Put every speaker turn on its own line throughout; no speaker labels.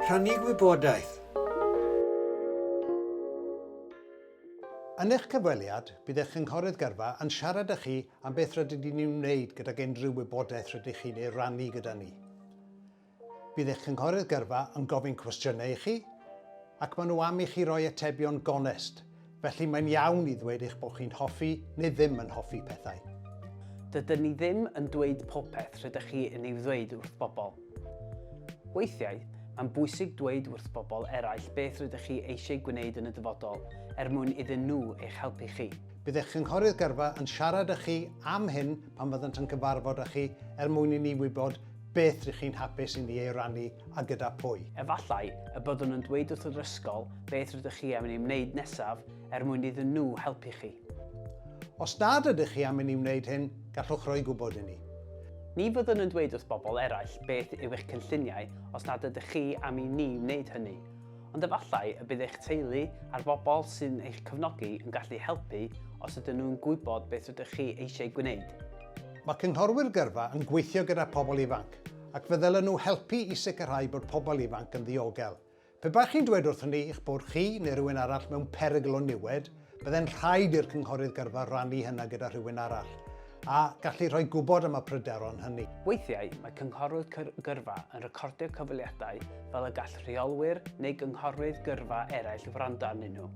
Rhannu gwybodaeth.
Yn eich cyfweliad, bydd eich cynghorydd gyrfa yn siarad â chi am beth rydyn ni'n ei wneud gydag unrhyw wybodaeth rydych chi'n ei rannu gyda ni. Bydd eich cynghorydd gyrfa yn gofyn cwestiynau i chi, ac maen nhw am i chi roi atebion gonest, Felly mae'n iawn i ddweud eich bod chi'n hoffi neu ddim yn hoffi pethau. Dydyn ni
ddim yn dweud popeth rydych chi yn ei ddweud wrth bobl. Weithiau, mae'n bwysig dweud wrth bobl eraill beth rydych chi eisiau gwneud yn y dyfodol er mwyn iddyn nhw eich helpu chi. Bydd eich cynghorydd
gyrfa yn siarad â chi am hyn pan fyddant yn cyfarfod â chi er mwyn i ni wybod beth rŷch chi'n hapus i ni ei rannu a gyda phwy. Efallai y byddwn
yn dweud wrth yr ysgol beth rydych chi am i ni wneud nesaf er mwyn iddyn nhw helpu chi. Os
nad ydych chi am i ni wneud hyn, gallwch roi gwybod i ni. Ni fyddwn
yn dweud wrth bobl eraill beth yw eich cynlluniau os nad ydych chi am i ni wneud hynny, ond efallai y bydd eich teulu a'r bobl sy'n eich cefnogi yn gallu helpu os ydyn nhw'n gwybod beth rydych chi eisiau gwneud. Mae
cynghorwyr gyrfa yn gweithio gyda phobl ifanc, ac fe ddylen nhw helpu i sicrhau bod pobl ifanc yn ddiogel. Pe baech chi'n dweud wrthon ni eich bod chi neu rhywun arall mewn perygl o niwed, byddai'n rhaid i'r cynghorydd gyrfa rannu hynna gyda rhywun arall, a gallu rhoi gwybod am y pryderon hynny. Weithiau, mae
cynghorwyr gyrfa yn recordio cyfweliadau fel y gall rheolwyr neu gynghorwyr gyrfa eraill wrando arnyn nhw.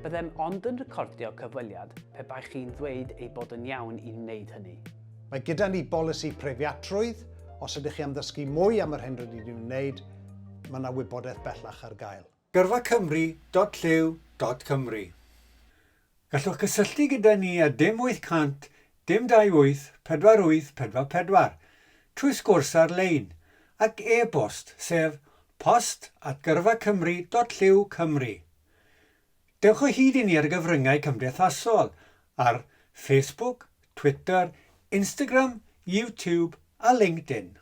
Byddem ond yn recordio cyfweliad pe baech chi'n ddweud ei bod yn iawn i wneud hynny. Mae gyda ni
bolisi preifiatrwydd, os ydych chi am ddysgu mwy am yr hyn rydyn ni'n wneud, mae yna wybodaeth bellach ar gael.
Gyrfacymru.llyw.cymru Gallwch gysylltu gyda ni ar dim 800 dim 28 48 44 trwy sgwrs ar-lein ac e-bost sef post at gyrfacymru.llyw.cymru. Dewch o hyd i ni ar y gyfryngau cymdeithasol ar Facebook, Twitter, Instagram, YouTube a LinkedIn.